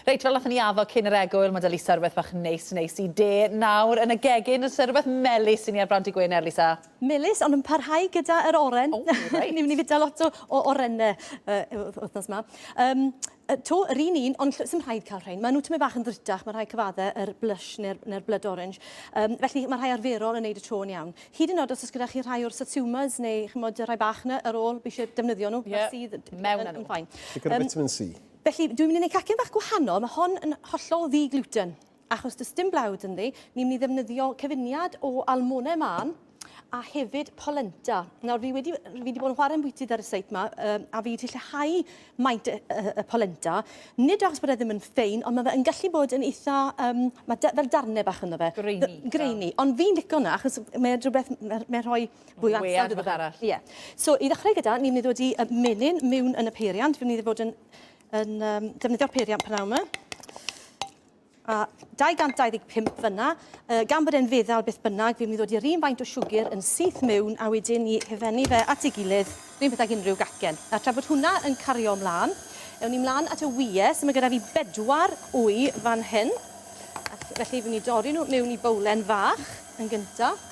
Reit, fel nathon ni addo cyn yr egwyl, ma' 'da Lisa rwbeth bach neis neis i de nawr yn y gegin, o's 'na rwbeth melys i ni ar Blant y Gwener, Lisa? Melys, ond yn parhau gyda yr oren. O, reit. Ni myn' i fita lot o o orene yy y wth- wthnos 'ma. Yym yy 'to yr un un, ond ll- sim rhaid ca'l rhein. Ma' nw tymed bach yn ddrutach, ma' rhai cyfadde yr blush ne'r ne'r blood orange. Yym felly ma' rhai arferol yn neud y to yn iawn. Hyd yn o'd os o's gyda chi rhai o'r satsumas neu ch'mod y rhai bach 'na ar ôl, fi isie defnyddio nw. Ie. Ma'r sudd yy mewn â nw. Yn fine. Digon o vitamin See. Yym. Felly, dwi'n mynd i wneud cacen bach gwahanol, mae hon yn hollol ddi-gluten, achos does dim blawd ynddi, ni'n mynd i ddefnyddio cyfuniad o almonau mân a hefyd polenta. Nawr, fi wedi, fi wedi bod yn chwarae ambwytydd ar y seit yma, um, a fi wedi lleihau maint y, y, y polenta, nid achos bod e ddim yn ffein, ond mae fe yn gallu bod yn eitha, um, mae da, fel darnau bach ynddo fe. Greini. Greini, ond fi'n licio hwnna, achos mae'n rhywbeth, mae'n rhoi Fwy o ansawdd rhywbeth arall. Ie. So i ddechrau gyda, ni'n mynd i ddod i y menyn mewn yn y peiriant. Fi'n mynd i fod yn, yn um, defnyddio'r peiriant pan yma. A 225 fyna, uh, gan bod e'n feddal beth bynnag, fi'n mynd i ddod i'r un faint o siwgr yn syth mewn a wedyn ni hefennu fe at ei gilydd, rhywun peth ag unrhyw gacen. A tra bod hwnna yn cario ymlaen, ewn ni mlaen at y wyau, so mae gyda fi bedwar wy fan hyn. Felly fi'n mynd i dorri nhw mewn i bowlen fach yn gyntaf.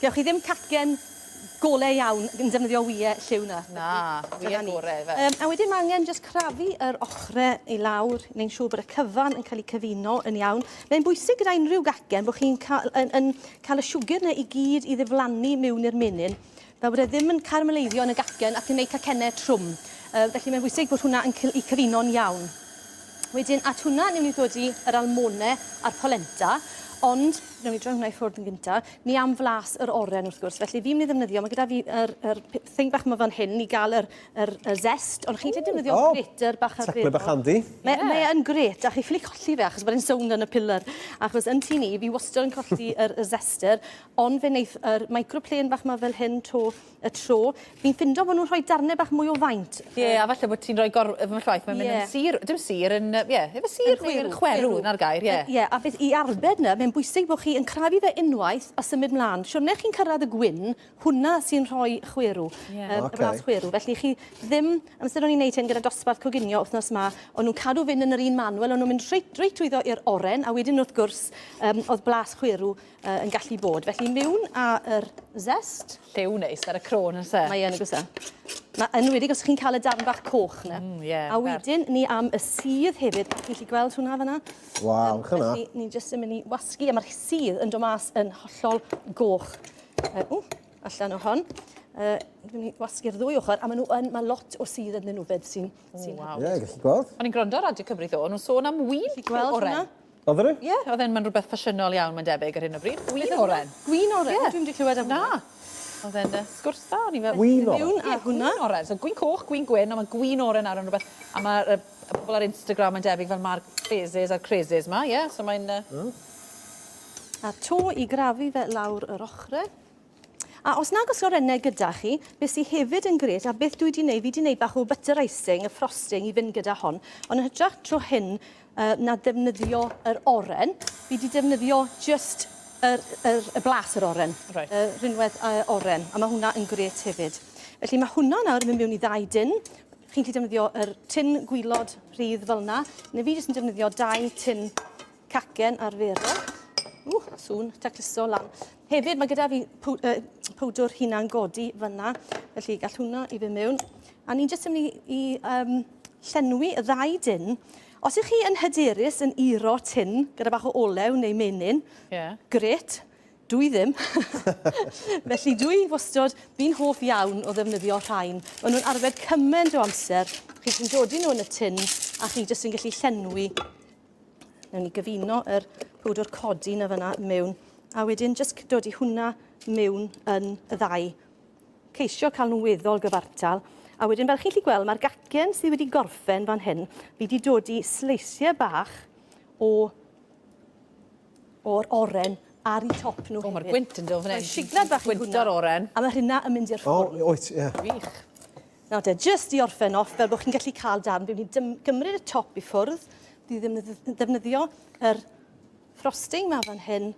Gewch chi ddim cacen gole iawn yn defnyddio wye lliw na. Na, wye gore yfe. Yym a wedyn ma' angen jyst crafu yr ochre i lawr neu'n siŵr bod y cyfan yn cael eu cyfuno yn iawn. Mae'n bwysig gyda unrhyw gacen bod chi'n cael yn yn cael y siwgr 'na i gyd i ddiflannu miwn i'r menyn fel bod e ddim yn caramaleiddio yn y gacen ac yn neud cacenne trwm. Yy felly mae'n bwysig bod hwnna yn cy- i cyfuno'n iawn. Wedyn at hwnna newn ni ddodi yr almone a'r polenta ond newn ni droi hwnna i ffwrdd yn gynta. ni am flas yr oren wrth gwrs, felly fi'n mynd i ddefnyddio, mae gyda fi yr, yr thing bach yma fan hyn i gael yr, yr, y zest, ond chi'n gallu defnyddio oh, grater bach ar Tecla bach handi. Mae, yeah. mae yn gret, a chi ffili colli fe achos mae'n sownd yn y pillar. Achos yn tu ni, fi wastad yn colli yr, y zester, ond fe wneith yr microplane bach yma fel hyn to y tro. Fi'n ffindo bod nhw'n rhoi darnau bach mwy o faint. Ie, yeah, a falle bod ti'n rhoi gor... Efo llaeth, mae'n mynd yeah. yn sir... Dim sir, yn... Ie, yeah, efo sir neu yn chwerw, na'r gair, ie. Yeah. Ie, yeah, a beth i arbed na, mae'n bwysig bod chi yn crafu fe unwaith a symud mlaen. Siwrne chi'n cyrraedd y gwyn, hwnna sy'n rhoi chwerw, yeah. um, okay. y chwerw. Felly chi ddim, amser o'n i'n neud hyn gyda dosbarth coginio wythnos ma, o'n nhw'n cadw fynd yn yr un manwel, o'n nhw'n mynd reit, reit trwyddo i'r oren, a wedyn wrth gwrs, um, oedd blas chwerw yy yn gallu bod. Felly miwn a yr zest. Lliw neis ar y cro yn oes e? Mae yn oes e? Ma' yn wedi os chi'n cael y darn bach coch yna. Mm, yeah, a wedyn ni am y sudd hefyd. Chi'n gallu gweld hwnna fanna? Waw, um, chyna. Felly ni jyst yn mynd i wasgu a mae'r sudd yn dod mas yn hollol goch. Uh, ww, allan o hon. Uh, ni wasgu'r ddwy ochr, a maen nhw yn, mae lot o sudd ydyn nhw fyd sy'n... Oh, wow. Ie, yeah, gallu gweld. O'n i'n gwrando ar Radio Cymru ddo, nhw'n sôn am win oren. Gweld hwnna? Odd e? Ie, odd e'n, ma'n rwbeth ffasiynol iawn mae'n debyg ar hyn o bryd. Gwin oren. Gwin oren? Ie. Dwi'm 'di clywed am hwnna. Na. Odd e'n yy sgwrs da o'n i fel... Gwin oren? ...sdim un ar hwnna. Gwin oren. So gwin coch, gwin gwyn, on' ma' gwin oren nawr yn rwbeth a ma' yy y pobol ar Instagram mae'n debyg fel ma'r phases a'r crazes 'ma ie so mae'n yy... Hmm. A to i grafu fe lawr yr ochre. A os nag oes orennau gyda chi, be sy hefyd yn gret a beth dwi di neud, fi di neud bach o butter icing, y frosting i fynd gyda hon, ond yn hytrach tro hyn yy na defnyddio yr oren, fi di defnyddio jyst yr yr y blas yr oren. Reit. Y rhinwedd yy oren, a ma' hwnna yn gret hefyd. Felly ma' hwnna nawr yn mynd mewn i ddau dun. Chi'n gallu defnyddio yr tin gwilod rhydd fel 'na, ne' fi jyst yn defnyddio dau tin Cacen arferol. Ww, sŵn tacluso lan. Hefyd, mae gyda fi powdwr hunan godi fyna, felly gall hwnna i fy mewn. A ni'n jyst yn mynd i, i um, llenwi y ddau dyn. Os ych chi yn hyderus yn uro tin gyda bach o olew neu menyn, yeah. gret, dwi ddim. Felly dwi wastod, fi'n hoff iawn o ddefnyddio rhain. Maen nhw'n arfer cymaint o amser. Chi chi'n dodi nhw yn y tin a chi jyst yn gallu llenwi Newn ni gyfuno yr powdwr codi na fyna mewn. A wedyn jyst dod i hwnna mewn yn y ddau. Ceisio cael nhw'n weddol gyfartal. A wedyn fel chi'n lli gweld mae'r gacen sydd wedi gorffen fan hyn, fi wedi dod i sleisiau bach o o'r oren ar i top nhw. O, mae'r gwynt yn dod fan hyn. Siglad bach gwynt o'r oren. A mae hynna yn mynd i'r ffwrn. O, oet, ie. Wych. Nawr te, jyst i orffen off, fel bod chi'n gallu cael darn, fi'n mynd i gymryd y top i ffwrdd, fi ddim yn ddefnyddio yr frosting ma fan hyn.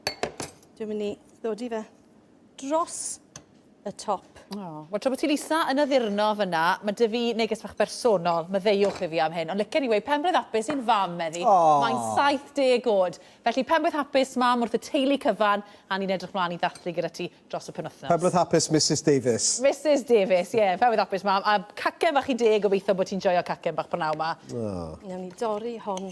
Dwi'n mynd i ddodi fe dros y top. Oh. Wel, tra bod ti'n isa yn addurno fyna, mae dy fi neges fach bersonol, maddeuwch i fi am hyn, ond licen i wei penblwydd hapus i'n fam, meddi. Oh. Mae'n 70 oed. Felly, penblwydd hapus, mam, wrth y teulu cyfan, a ni'n edrych mlaen i ddathlu gyda ti. dros y penwythnos. Pawb roedd hapus Misus Davies. Misus Davies, ie. Pawb oedd hapus mam. A cacen fach i deg, gobeithio bod ti'n joio cacen bach prynawn ma. Oh. Newn ni dorri hon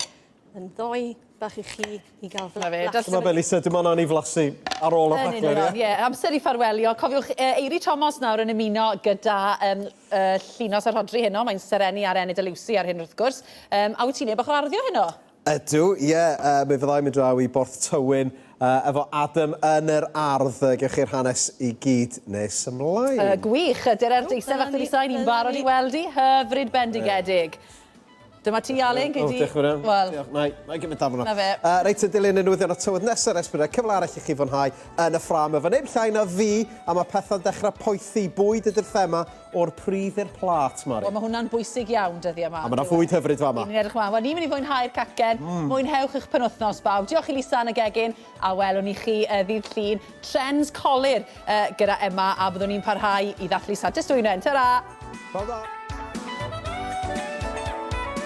yn ddoe bach i chi i gael fy flasu. Dyma fe Lisa, dim ond i flasu ar ôl y rhaglen, ie? Ie, amser i ffarwelio. Cofiwch, uh, Eiri Tomos nawr yn ymuno gyda um, uh, Llinos a Rhodri heno. Mae'n serennu ar Enid a Lucy ar hyn wrth gwrs. Um, a wyt ti'n ei bach o arddio heno? Ydw, ie, yy mi fyddai'n mynd draw i Borth Tywyn yy efo Adam yn yr ardd, yy gewch chi'r hanes i gyd nes ymlaen. Yy gwych, yy Dererth eistedd fach wedi sain, ni'n barod i weld hi, hyfryd bendigedig. Dyma ti Alun, gei di... O, diolch yn fawr iawn. Wel... Nai, nai gymryd darn yna. 'Na fe. Yy reit, yn dilyn y newyddion a'r tywydd nesa res bydd 'na cyfle arall i chi fwynhau yn y ffrâm efo neb llai na fi, a ma' petha'n dechra poethi, bwyd ydi'r thema O'r pridd i'r plât, Mari. Wel, mae hwnna'n bwysig iawn dyddiau 'ma. A mae 'na fwyd hyfryd fama. Ry'n ni'n edrych ymlaen. Wel, ni'n mynd i fwynhau'r cacen. Mwynhewch eich penwythnos, bawb. Diolch i Lisa yn y gegin, a welwn ni chi yy ddydd Llun. Trends colur yy gyda Emma, a byddwn ni'n parhau i ddathlu Santes Dwynwen. Tara! Pnawn da!